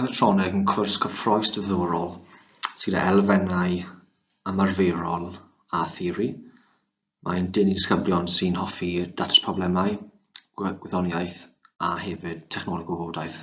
Mechatronig yn cwrs gyffrous diddorol sydd â elfennau ymarferol a theori. Mae'n denu disgyblion sy'n hoffi datrys problemau, gwyddoniaeth a hefyd technoleg o wybodaeth.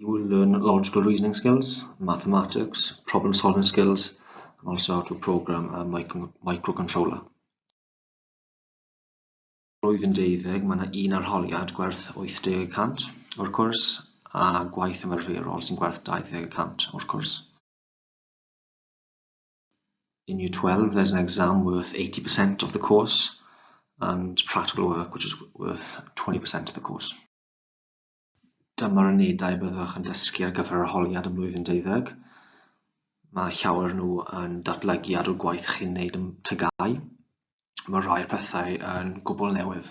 You will learn logical reasoning skills, mathematics, problem solving skills, and also how to program a micro microcontroller. Roedd yn deuddeg, mae yna un arholiad gwerth 80% o'r cwrs a gwaith ymarferol sy'n gwerth 20% o'r cwrs. in year 12 there's an exam worth 80% of the course and practical work which is worth 20% of the course. Dyma'r unedau byddwch yn dysgu ar gyfer yr holiad ym mlwyddyn deuddeg. Mae llawer nhw yn datblygu ar y gwaith chi'n neud yn tygau. Mae rhai pethau yn gwbl newydd.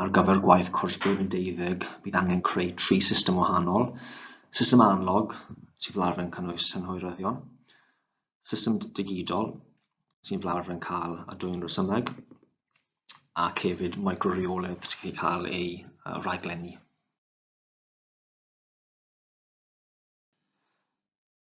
ar gyfer gwaith cwrs blwyddyn deuddeg, bydd angen creu tri system wahanol, system analog, sy'n fel arfer yn cynnwys synhwyryddion, system digidol, sy'n fel arfer yn cael a dwy'n resymeg, ac hefyd microreoledd sy'n cael ei cael ei uh, raglenni.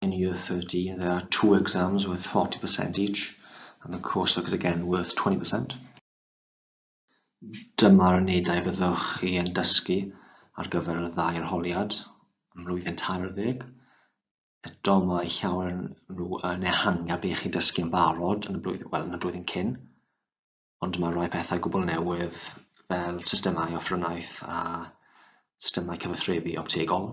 in year 13, there are two exams worth 40% each, and the coursework is again worth 20%. Dyma'r unedau byddwch chi yn dysgu ar gyfer y ddau arholiad yn mlwyddyn tair ar ddeg. Eto mae llawer nhw yn ehangu ar beth chi'n dysgu yn barod yn y blwyddyn, wel, yn y blwyddyn cyn, ond mae rhai pethau gwbl newydd fel systemau offrwnaeth a systemau cyfathrebu optegol.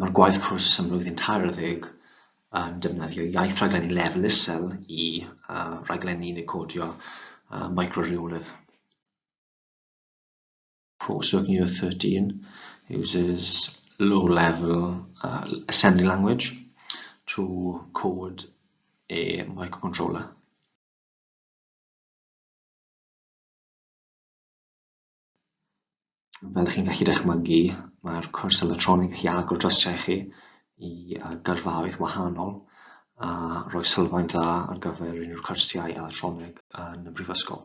Mae'r gwaith cwrs am flwyddyn tair ar ddeg yn defnyddio iaith rhaglenni lefel isel i uh, raglenni neu codio uh, micro-rheolydd. Coursework Year 13 uses low-level uh, assembly language to code a microcontroller. Fel chi'n gallu dychmygu, mae'r cwrs elytroneg yn gallu agor drysiau chi i yy gyrfaoedd wahanol a rhoi sylfaen dda ar gyfer unrhyw cyrsiau elytroneg yn y Brifysgol.